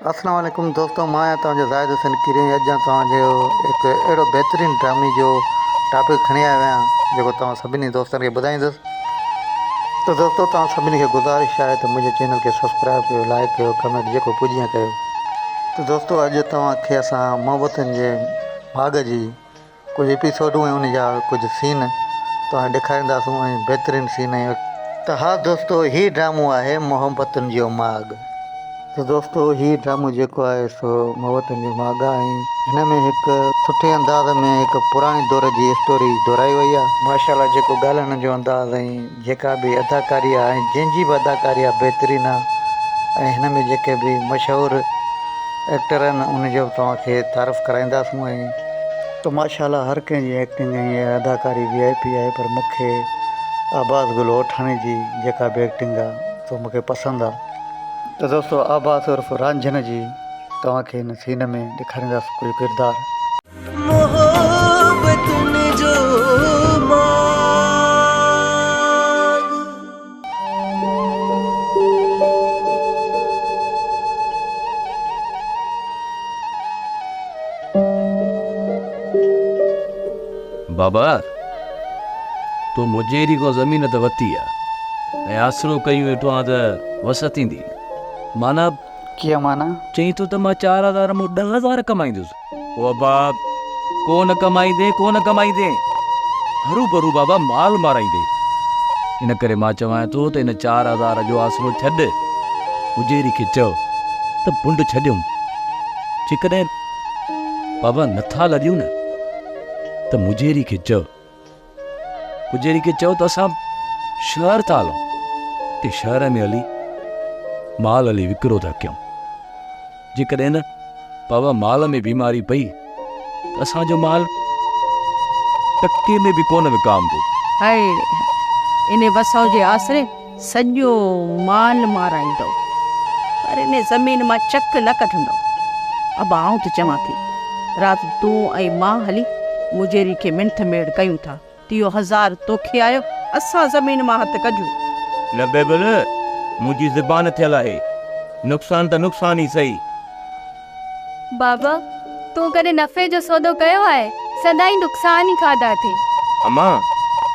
اسلام عليڪم دوستو مان آهيان توهان جو زاهد حسين ڪريم اڄ آن توهان جو هڪ اهڙو بهترين ڊرامي جو ٽاپڪ کڻي آيو آهيان جيڪو توهان سڀني دوستن کي ٻڌائيندس ته دوستو توهان سڀني کي گذارش آهي ته منهنجي چينل کي سبسڪرائب ڪيو لائڪ ڪيو ڪمينٽ جيڪو پڄيان ڪيو ته دوستو اڄ توهان کي اسان محبتن جي باغ جي ڪجهه ايپيسوڊون ۽ ان جا ڪجهه سين توهان ڏيکارينداسون ۽ بهترين سين ۽ ته ها دوستو هي ڊرامو آهي محبتن جو ماڳ. ته دوستو هي ڊرامو جيڪو آهي سو محبتن جو ماڳ آهي ۽ هن ۾ هڪ سٺي انداز ۾ هڪ پراڻي دور جي اسٽوري دهرائي وئي آهي. ماشاء الله جيڪو ڳالهائڻ جو انداز ۽. جيڪا به اداڪاري آ ۽ جنهن جي به اداڪاري آ بهترين آ ۽ هن ۾ جيڪي به مشهور ايڪٽر آهن ان جو به توهان کي تعارف ڪرائينداسون ۽ تو ماشاءالله هر ڪنهن جي ايڪٽنگ ۽ اداڪاري وي آء پي آهي پر مون کي عباس گل اوٺاڻي جي جيڪا به ايڪٽنگ آ سو مون کي پسند آ ته دوستو عباس عرف رانجهن جي توهان کي هن سين ۾ ڏيکارينداسون ڪجهه ڪردار. محبتن جو ماڳ. بابا! تو مون جهڙي ڪو زمين ته وتي آ ۽ آسرو ڪيون ويٺو آن ته وس ٿيندي معنيٰ. ڪيئن معنيٰ؟ چئين ٿو ته مان چار هزار مون ڏهه هزار ڪمائيندس. بابا ڪو نه ڪمائيندين ڪو نه ڪمائيندين هرو برو بابا مال مارائيندين ان ڪري مان چوان ٿو ته ان چار هزار جو آسرو ڇڏ اجيري کي چئو ته بنڊ ڇڏيون جيڪڏهن بابا نٿا لڏيون نه ته مجيري کي چئو پڄيري کي چيو ته اسان شهر ٿا هلون ته شهر ۾ هلي مال هلي وڪرو ٿا ڪيون جيڪڏهن نه پاوا مال ۾ بيماري پئي ته اسان جو مال ٽڪي ۾ به ڪونه وڪامبو ان وسو جي آسري سڄو مال مارائيندو، پر ان زمين مان چڪ نه ڪڍندو. ابا آئون ته چوان ٿي، رات تون ۽ مان هلي مجيري کي منٿ ميڙ ڪيون ٿا، تيو هزار توکي آيو، اسان زمين مان هٿ ڪجون. نه بيبل، منهنجي زبان ٿيل آهي، نقصان ته نقصان ئي سهي. بابا، تون ڪڏهن نفعي جو سودو ڪيو آهي؟ سدائين نقصان ئي کاڌا اٿئي. اما،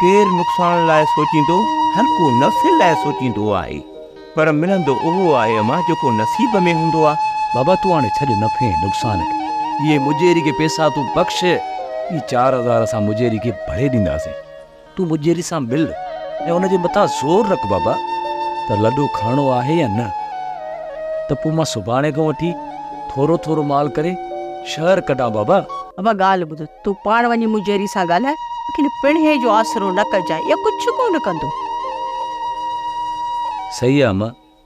ڪير نقصان لاء سوچيندو؟ هر ڪو نفعي لاء سوچيندو آهي، پر ملندو اهو آهي اما جيڪو نصيب ۾ هوندو آهي. بابا، تون هاڻي ڇڏ نفعي ۽ نقصان کي. اهي مجيري کي پئسا تون بخش، هي چار هزار اسان مجيري کي ڀري ڏينداسين. تون مجيري سان مل ۽ ان جي مٿان زور رک بابا ته لڏو کڻڻو آهي يا نه ته پوء مان سڀاڻي کان وٺي ٿورو ٿورو مال ڪري شهر ڪڍان بابا. بابا ڳالهه ٻڌ، تون پاڻ وڃي مجيري سان ڳالهاء، ليڪن پڻهي جو آسرو نه ڪجانء، اهو ڪجهه ڪونه ڪندو. صحيح آ امان،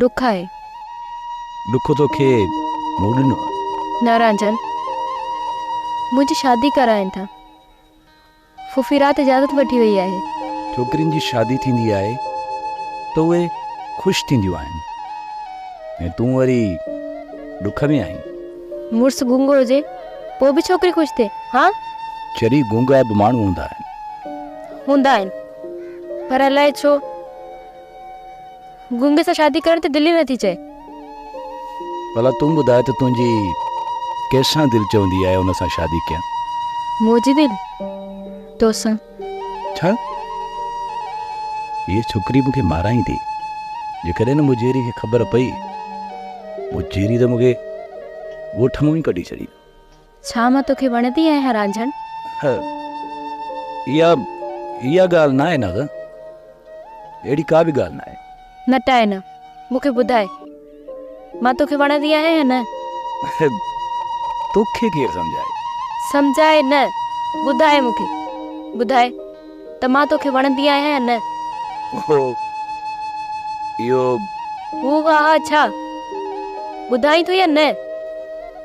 ڏک آهي. ڏک توکي مون ڏنو آهي. نارانجن منهنجي شادي ڪرائين ٿا. ڦوڦي رات اجازت وٺي وئي آهي. ڇوڪرين جي شادي ٿيندي آهي ته اهي خوش ٿينديون آهن ۽ تون وري ڏک ۾ آهين. مڙس گونگو هجي پوء به ڇوڪري خوش ٿئي ها. چري گونگا به ماڻهو هوندا آهن. هوندا آهن پر الائي ڇو. گونگي سان شادي ڪرڻ تي دل ئي نه ٿي چئي. ڀلا تون ٻڌاء ته تنهنجي ڪنهن سان دل چوندي آهي ان سان شادي ڪيان. منهنجي دل تو سان. ڇا؟ هيء ڇوڪري مون کي مارائيندي. جيڪڏهن نه مجيري کي خبر پئي، مجيري ته مون کي ڳوٺ مون ئي ڪڍي ڇڏيندو. ڇا مان توکي وڻندي آهيان رانجهڻ؟ اها اها ڳالهه ناهي نغ. اهڙي ڪا به ڳالهه ناهي. نٽائي نه. مون کي ٻڌاء. مان توکي وڻندي آهيان يا نه؟ توکي ڪير سمجهائي؟ سمجهائي نه. ٻڌاء مون کي. ٻڌاء ته مان توکي وڻندي آهيان يا نه؟ هو اهو. هو ها ها ڇا؟ ٻڌائين ٿو يا نه؟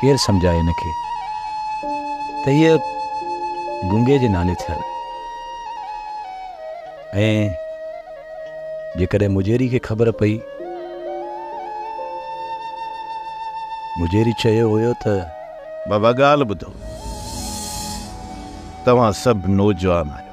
ڪير سمجهائي هن کي ته هيء گونگي جي نالي ٿيل ۽ جيڪڏهن مجيري کي خبر پئي، مجيري چيو هيو ته. بابا ڳالهه ٻڌو، توهان سڀ نوجوان آهيو.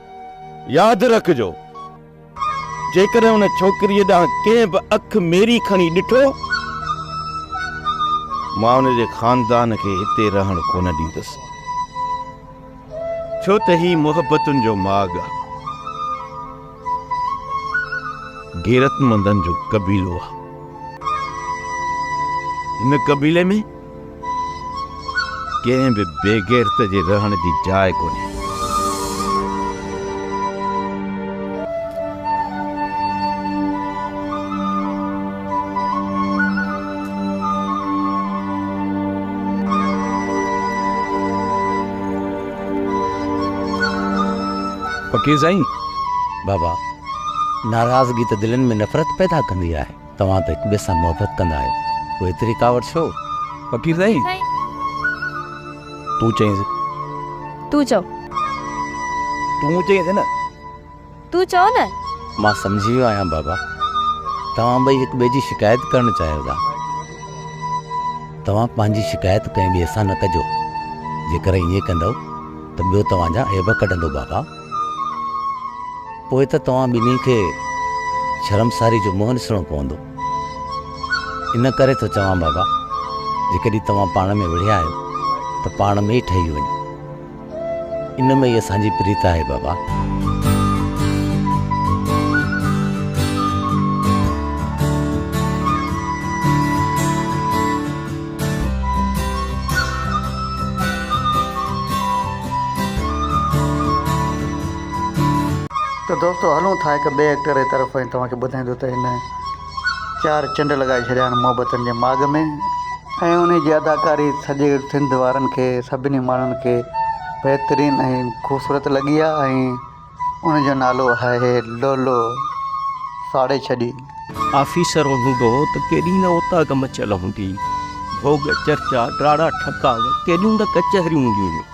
ياد رکجو، جيڪڏهن ان ڇوڪريء ڏانهن ڪنهن به اک ميري کڻي ڏٺو، مان ان جي خاندان کي هتي رهڻ ڪونه ڏيندس، ڇو ته هي محبتن جو ماڳ آهي، غيرتمندن جو قبيلو آهي. هن قبيلي ۾. ڪنهن به بيغيرت جي رهڻ جي جاء ڪونهي. فقير سائين، بابا، ناراضگي ته دلين ۾ نفرت پيدا ڪندي آهي. توهان ته هڪ ٻئي سان محبت ڪندا آهيو پوء ايتري ڪاوڙ ڇو فقير سائين. تون چئينس. تون چئو. تون چئينس نه. تون چئو نه. مان سمجهي ويو آهيان بابا توهان ٻئي هڪ ٻئي جي شڪايت ڪرڻ چاهيو ٿا توهان پنهنجي شڪايت ڪنهن ٻئي سان نه ڪجو جيڪر ائين ڪندؤ ته ٻيو توهان جا عيب ڪڍندو بابا. پوء ته توهان ٻنهي کي شرمساري جو منهن ڏسڻو پوندو. ان ڪري ٿو چوان بابا، جيڪڏهن توهان پاڻ ۾ وڙهيا آهيو ته پاڻ ۾ ئي ٺهي وڃو. ان ۾ ئي اسان جي پريت آهي بابا. ته دوستو هلون ٿا هڪ ٻئي ايڪٽر جي طرف ۽ توهان کي ٻڌائين ٿو ته هن چار چنڊ لڳائي ڇڏيا آهن محبتن جي ماڳ ۾ ۽ انهي جي اداڪاري سڄي سنڌ وارن کي سڀني ماڻهن کي بهترين ۽ خوبصورت لڳي آهي ۽ ان جو نالو آهي لولو ساڙي ڇڏي. آفيسر هوندو ته ڪيڏي نه اوطاق مچيل هوندي، ڀوڳ، چرچا، ڊاڙا، ٺڪاء، ڪيڏيون نه ڪچهريون هونديون هيون.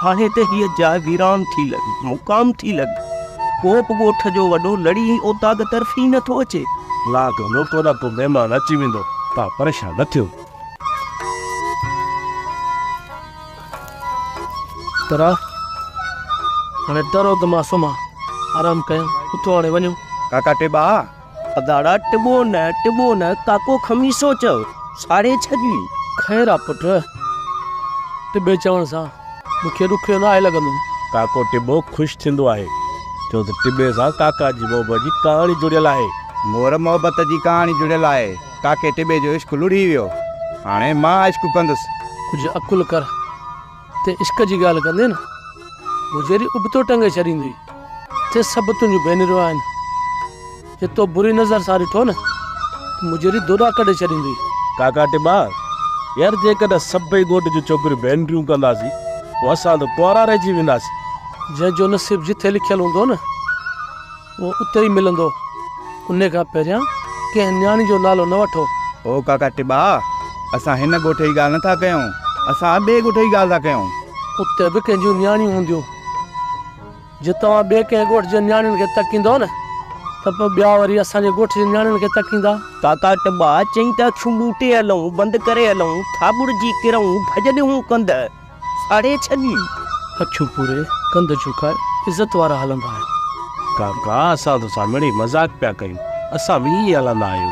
هاڻي ته هيء جاء ويران ٿي لڳي، مقام ٿي لڳي. ڪو به ڳوٺ جو وڏو لڙي هي اوطاق طرف ئي نه ٿو اچي. الله جو نوڪر آ، ڪو مهمان اچي ويندو، توهان پريشان نه ٿيو. ترا، هاڻي ٽرو ته مان سمهان، آرام ڪيان، اٿو هاڻي وڃون. ڪاڪا ٽٻا، اداڙا ٽٻو نه، ٽٻو نه، ڪاڪو خميسو چئو، ساڙهي ڇڏي. خير آ پٽ، ٽٻي چوڻ سان مون کي ڏکيو نه آهي لڳندو. ڪاڪو ٽٻو خوش ٿيندو آهي، ڇو ته ٽٻي سان ڪاڪا جي محبت جي ڪهاڻي جڙيل آهي. مور محبت جي ڪهاڻي جڙيل آهي. ڪاڪي ٽٻي جو عشق لڙهي ويو، هاڻي مان عشق ڪندس. ڪجهه عقل ڪر، تي عشق جي ڳالهه ڪندين نه، مون جهڙي ابتو ٽنگي ڇڏيندئي، تي سڀ تنهنجون ڀينريون آهن، جي تو بري نظر سان ڏٺو نه، ته مون جهڙي دوڏا ڪڍي ڇڏيندئي. ڪاڪا ٽٻا، يار جيڪڏهن سڀئي ڳوٺ جون ڇوڪريون ڀينريون ڪنداسين، پوء اسان ته ڪنوارا رهجي وينداسين. جنهن جو نصيب جٿي لکيل هوندو نه. اهو اتي ئي ملندو. انهي کان پهريان ڪنهن نياڻي جو نالو نه وٺو. او ڪاڪا ٽٻا، اسان هن ڳوٺ جي ڳالهه نه ٿا ڪيون، اسان ٻئي ڳوٺ جي ڳالهه ٿا ڪيون. اتي به ڪنهن جون نياڻيون هونديون. جي توهان ٻئي ڪنهن ڳوٺ جي نياڻين کي تڪيندؤ نه، ته پوء ٻيا وري اسان جي ڳوٺ جي نياڻين کي تڪيندا. ڪاڪا ٽٻا چيائين ته اکيون ٻوٽي هلئون، بند ڪري هلئون، ٿاٻڙجي ڪرئون، ڀڄ ڏيون ڪنڌ. ساڙي ڇڏين. اکيون پوري، ڪنڌ جهڪاء، عزت وارا هلندا آهن. ڪاڪا، اسان توسان مڙئي مذاق پيا ڪيون. اسان به ائين هلندا آهيون.